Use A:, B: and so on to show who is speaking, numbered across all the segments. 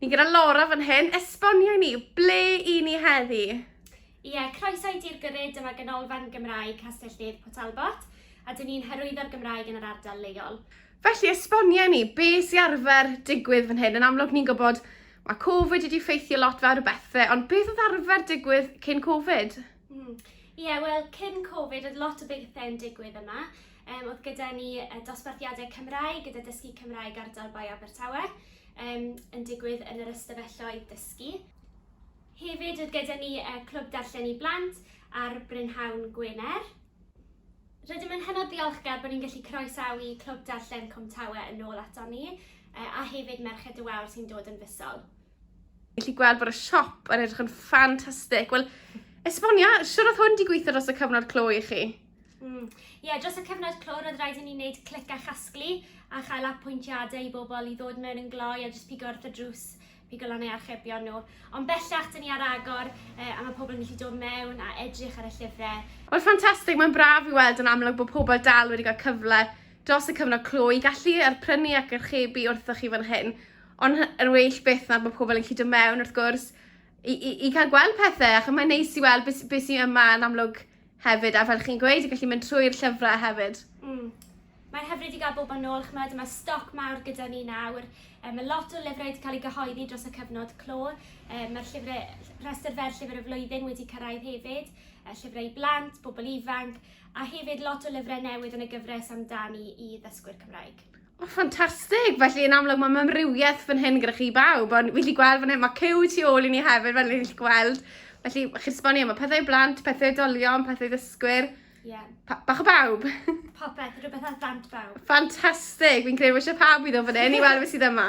A: Ni gyda Laura fan hyn, esbonio i ni, ble i ni heddi? Ie,
B: croeso i Dir Gyrryd, dyma Ganolfan Gymraeg Castell Nedd Port Talbot, a dyn ni'n hyrwyddo'r Gymraeg yn yr ardal leol. Felly, esbonio
A: ni, be sy'n arfer digwydd fan hyn? Yn amlwg, ni'n gwybod mae Covid wedi ffeithio lot fawr o bethau, ond beth oedd arfer digwydd cyn Covid? Mm. Ie, yeah,
B: wel, cyn Covid, oedd lot o bethau yn digwydd yma. Um, oedd gyda ni dosbarthiadau Cymraeg, gyda dysgu Cymraeg ardal Bae Abertawe. Yym, yn digwydd yn yr ystafelloedd dysgu. Hefyd oedd gyda ni y Clwb Darllen i Blant ar Brynhawn Gwener. Rydym yn hynod ddiolchgar bod ni'n gallu croesawu Clwb Darllen Cwmtawe yn ôl aton ni, a hefyd Merched y Wawr sy'n dod yn fisol. Felly gweld
A: bod y siop yn edrych yn ffantastig. Wel, esbonia, siwr oedd hwn di gweithio dros y cyfnod clo i chi? Mm. yeah,
B: dros y cyfnod clo, roedd rhaid i ni wneud clic a chasglu a chael apwyntiadau i bobl i ddod mewn yn gloi a jyst pigo wrth y drws, pigo lan ei archebion nhw. Ond bellach, dyn ni ar agor eh, a mae pobl yn gallu dod mewn a edrych ar y llyfrau. Wel, ffantastig, mae'n
A: braf i weld yn amlwg bod pobl dal wedi cael cyfle dros y cyfnod clo i gallu arprynu ac archebu wrthoch chi fan hyn. Ond yr well beth na bod pobl yn gallu dod mewn, wrth gwrs, i, i, i cael gweld pethau, ac mae'n neis i weld beth, beth sy'n yma yn amlwg Hefyd, a fel chi'n gweud, y gallu mynd trwy'r llyfrau hefyd. Mm. Mae'n
B: hyfryd i gael bob yn ôl, chymod, mae stoc mawr gyda ni nawr. Um, mae lot o lyfrau wedi cael ei gyhoeddi dros y cyfnod clo. Um, mae'r llyfrau, rhestr fer llyfr y flwyddyn wedi cyrraedd hefyd, uh, llyfrau blant, bobl ifanc, a hefyd lot o lyfrau newydd yn y gyfres amdani i ddysgwyr Cymraeg. Oh, ffantastig!
A: Felly yn amlwg mae mamrywiaeth fan hyn gyda chi bawb, ond fi'n lli gweld fan hyn, mae cyw tu ôl i ni hefyd, fel fi'n lli gweld. Felly, chi'n sbonio, mae pethau blant, pethau dolion, pethau ddysgwyr. Yeah.
B: bach o bawb.
A: Popeth, rhywbeth
B: ar blant bawb. Ffantastig! Fi'n
A: credu bod eisiau pawb i ddod fan hyn i weld beth sydd yma.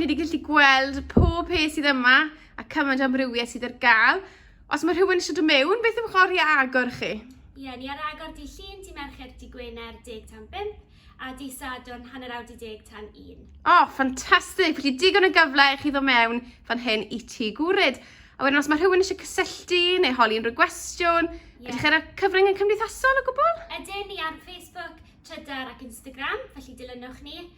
A: Ni wedi gallu gweld pob peth sydd yma a cymaint o amrywiaeth sydd ar gael. Os mae rhywun eisiau dod mewn, beth yw'ch oriau agor chi? Ie, yeah, ni ar agor
B: di llun, di mercher, di gwener, deg tan 5, a di sadwrn, hanner awr di deg tan 1. O, oh, ffantastig!
A: Felly digon o gyfle i chi ddod mewn fan hyn i ti gwryd. A wedyn os mae rhywun eisiau cysylltu neu holi unrhyw gwestiwn, yeah. ydych chi'n cyfrwng yn cymdeithasol o gwbl? Ydyn ni ar
B: Facebook, Twitter ac Instagram, felly dilynwch ni.